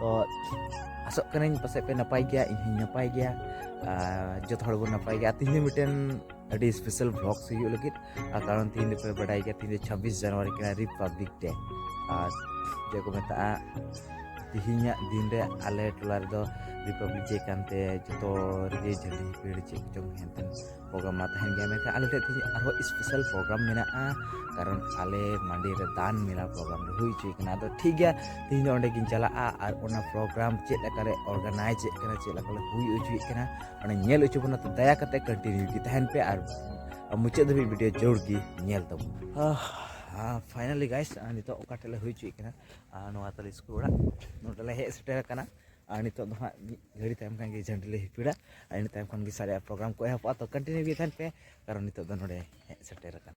ᱛᱚ ᱟᱥᱚᱜ ᱠᱟᱹᱱᱟᱹᱧ ᱯᱟᱥᱮᱡ ᱯᱮ ᱱᱟᱯᱟᱭ ᱜᱮᱭᱟ ᱤᱧ ᱦᱚᱸᱧ ᱱᱟᱯᱟᱭ ᱜᱮᱭᱟ ᱡᱚᱛᱚ ᱦᱚᱲ ᱵᱚᱱ ᱱᱟᱯᱟᱭ ᱜᱮᱭᱟ ᱛᱤᱦᱤᱧ ᱢᱤᱫᱴᱮᱱ ᱟᱹᱰᱤ ᱥᱯᱮᱥᱟᱞ ᱵᱷᱞᱚᱜᱥ ᱦᱩᱭᱩᱜ ᱞᱟᱹᱜᱤᱫ ᱟᱨ ᱠᱟᱨᱚᱱ ᱛᱤᱦᱤᱧ ᱫᱚᱯᱮ ᱵᱟᱰᱟᱭ ᱜᱮᱭᱟ ᱛᱤᱦᱤᱧ ᱫᱚ ᱪᱷᱟᱵᱵᱤᱥ ᱡᱟᱱᱩᱣᱟᱨᱤ ᱠᱟᱱᱟ ᱨᱤᱯᱟᱵᱽᱞᱤᱠ ᱰᱮ ᱟᱨ ᱪᱮᱫ ᱠᱚ ᱢᱮᱛᱟᱜᱼᱟ ᱛᱤᱦᱤᱧᱟᱜ ᱫᱤᱱ ᱨᱮ ᱟᱞᱮ ᱴᱚᱞᱟ ᱨᱮᱫᱚ ᱨᱤᱯᱟᱵᱽᱞᱤᱠ ᱰᱮ ᱠᱟᱱᱛᱮ ᱡᱚᱛᱚ ᱨᱮᱜᱮ ᱡᱷᱟᱹᱞᱤ ᱯᱤᱲ ᱪᱮᱫ ᱠᱚᱪᱚᱝ ᱦᱮᱱᱛᱮᱱ ᱯᱨᱳᱜᱨᱟᱢ ᱢᱟ ᱛᱟᱦᱮᱱ ᱜᱮᱭᱟ ᱢᱮᱱᱠᱷᱟᱱ ᱟᱞᱮ ᱴᱷᱮᱱ ᱛᱮᱦᱮᱧ ᱟᱨᱦᱚᱸ ᱥᱯᱮᱥᱟᱞ ᱯᱨᱳᱜᱨᱟᱢ ᱢᱮᱱᱟᱜᱼᱟ ᱠᱟᱨᱚᱱ ᱟᱞᱮ ᱢᱟᱱᱰᱤ ᱨᱮ ᱫᱟᱱ ᱢᱮᱞᱟ ᱯᱨᱳᱜᱨᱟᱢ ᱞᱮ ᱦᱩᱭ ᱦᱚᱪᱚᱭ ᱠᱟᱱᱟ ᱟᱫᱚ ᱴᱷᱤᱠ ᱜᱮᱭᱟ ᱛᱮᱦᱮᱧ ᱫᱚ ᱚᱸᱰᱮ ᱜᱤᱧ ᱪᱟᱞᱟᱜᱼᱟ ᱟᱨ ᱚᱱᱟ ᱯᱨᱳᱜᱨᱟᱢ ᱪᱮᱫ ᱞᱮᱠᱟ ᱞᱮ ᱚᱨᱜᱟᱱᱟᱭᱤᱡᱽ ᱮᱫ ᱠᱟᱱᱟ ᱪᱮᱫ ᱞᱮᱠᱟ ᱞᱮ ᱦᱩᱭ ᱦᱚᱪᱚᱭᱮᱫ ᱠᱟᱱᱟ ᱚᱱᱟ ᱧᱮᱞ ᱦᱚᱪᱚ ᱵᱚᱱᱟ ᱛᱚ ᱫᱟᱭᱟ ᱠᱟᱛᱮ ᱠᱚᱱᱴᱤᱱᱤᱭᱩ ᱜᱮ ᱛᱟᱦᱮᱱ ᱯᱮ ᱟᱨ ᱢᱩᱪᱟᱹᱫ ᱫᱷᱟᱹᱵᱤᱡ ᱵᱷᱤᱰᱤᱭᱳ ᱡᱳᱨ ᱜᱮ ᱧᱮᱞ ᱛᱟᱵᱚᱱ ᱯᱷᱟᱭᱱᱟᱞᱤ ᱜᱟᱭᱥ ᱱᱤᱛᱚᱜ ᱚᱠᱟ ᱴᱷᱮᱱ ᱞᱮ ᱦᱩᱭ ᱦᱚᱪᱚᱭᱮᱫ ᱠᱟᱱᱟ ᱱᱚᱣᱟ ᱛᱟᱞᱮ ᱥᱠᱩᱞ ᱚᱲᱟᱜ ᱱᱚᱰᱮ ᱞᱮ ᱦᱮᱡ ᱥᱮᱴᱮᱨ ᱟᱠᱟᱱᱟ ᱟᱨ ᱱᱤᱛᱚᱜ ᱫᱚ ᱦᱟᱸᱜ ᱢᱤᱫ ᱜᱷᱟᱹᱲᱤ ᱛᱟᱭᱚᱢ ᱠᱷᱟᱱ ᱜᱮ ᱡᱷᱟᱹᱱᱴᱤ ᱞᱮ ᱦᱤᱯᱤᱲᱟ ᱟᱨ ᱤᱱᱟᱹ ᱛᱟᱭᱚᱢ ᱠᱷᱚᱱ ᱜᱮ ᱥᱟᱨᱮᱡᱟᱜ ᱯᱨᱳᱜᱨᱟᱢ ᱠᱚ ᱮᱦᱚᱵᱚᱜᱼᱟ ᱛᱚ ᱠᱚᱱᱴᱤᱱᱤᱭᱩ ᱜᱮ ᱛᱟᱦᱮᱱ ᱯᱮ ᱠᱟᱨᱚᱱ ᱱᱤᱛᱚᱜ ᱫᱚ ᱱᱚᱰᱮ ᱦᱮᱡ ᱥᱮᱴᱮᱨ ᱟᱠᱟᱱᱟ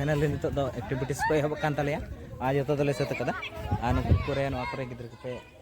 ᱯᱷᱟᱭᱱᱟᱞᱤ ᱱᱤᱛᱚᱜ ᱫᱚ ᱮᱠᱴᱤᱵᱷᱤᱴᱤᱥ ᱠᱚ ᱮᱦᱚᱵ ᱠᱟᱱ ᱛᱟᱞᱮᱭᱟ ᱟᱨ ᱡᱚᱛᱚ ᱫᱚᱞᱮ ᱥᱟᱹᱛ ᱟᱠᱟᱫᱟ ᱟᱨ ᱱᱩᱠᱩ ᱠᱚᱨᱮ ᱱᱚᱣᱟ ᱠᱚᱨᱮ ᱜᱤᱫᱽᱨᱟᱹ ᱠᱚᱯᱮ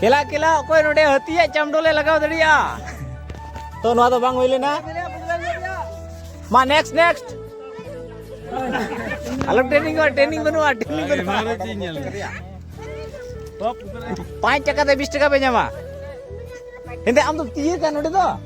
ᱠᱮᱞᱟ ᱠᱮᱞᱟ ᱚᱠᱚᱭ ᱱᱚᱰᱮ ᱦᱟᱹᱛᱤᱭᱟᱜ ᱪᱟᱢᱰᱚ ᱞᱮ ᱞᱟᱜᱟᱣ ᱫᱟᱲᱮᱭᱟᱜᱼᱟ ᱛᱚ ᱱᱚᱣᱟ ᱫᱚ ᱵᱟᱝ ᱦᱩᱭ ᱞᱮᱱᱟ ᱢᱟ ᱱᱮᱠᱥᱴ ᱱᱮᱠᱥᱴ ᱟᱞᱚ ᱴᱨᱮᱱᱤᱝ ᱵᱟᱹᱱᱩᱜᱼᱟ ᱴᱨᱮᱱᱤᱝ ᱵᱟᱹᱱᱩᱜᱼᱟ ᱴᱨᱮᱱᱤᱝ ᱵᱟᱹᱱᱩᱜᱼᱟ ᱯᱟᱸᱪ ᱴᱟᱠᱟ ᱛᱮ ᱵᱤᱥ ᱴᱟᱠᱟ ᱯᱮ ᱧᱟᱢᱟ ᱮᱱᱛᱮ ᱟᱢ ᱫᱚ ᱛᱤᱭᱟᱹ ᱠᱟᱱ ᱱᱚᱰᱮ ᱫᱚ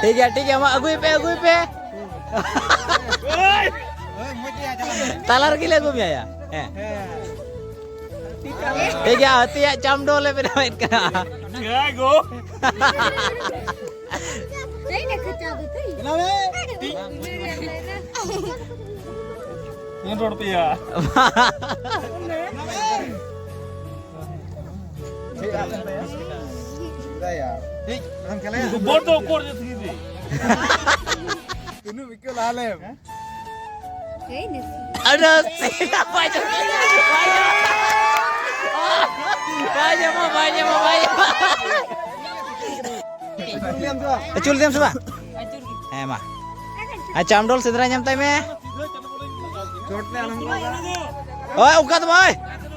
ᱴᱷᱤᱠ ᱜᱮᱭᱟ ᱴᱷᱤᱠ ᱜᱮᱭᱟ ᱢᱟ ᱟᱹᱜᱩᱭ ᱯᱮ ᱟᱹᱜᱩᱭ ᱯᱮ ᱛᱟᱞᱟ ᱨᱮᱜᱮ ᱞᱮ ᱟᱹᱜᱩ ᱢᱮᱭᱟ ᱦᱮᱸ ᱴᱷᱤᱠ ᱜᱮᱭᱟ ᱦᱟᱹᱛᱤᱭᱟᱜ ᱪᱟᱢᱰᱚ ᱞᱮ ᱵᱮᱱᱟᱣᱮᱫ ᱠᱟᱱᱟ ᱨᱚᱲ ᱯᱮᱭᱟ ᱟᱹᱪᱩᱨ ᱞᱮᱫᱮᱢ ᱥᱮ ᱵᱟᱝ ᱦᱮᱸ ᱢᱟ ᱟᱪᱪᱷᱟ ᱟᱢᱰᱚᱞ ᱥᱮᱸᱫᱽᱨᱟ ᱧᱟᱢ ᱛᱟᱭ ᱢᱮ ᱳᱭ ᱚᱱᱠᱟ ᱫᱚ ᱵᱟᱝ ᱳᱭ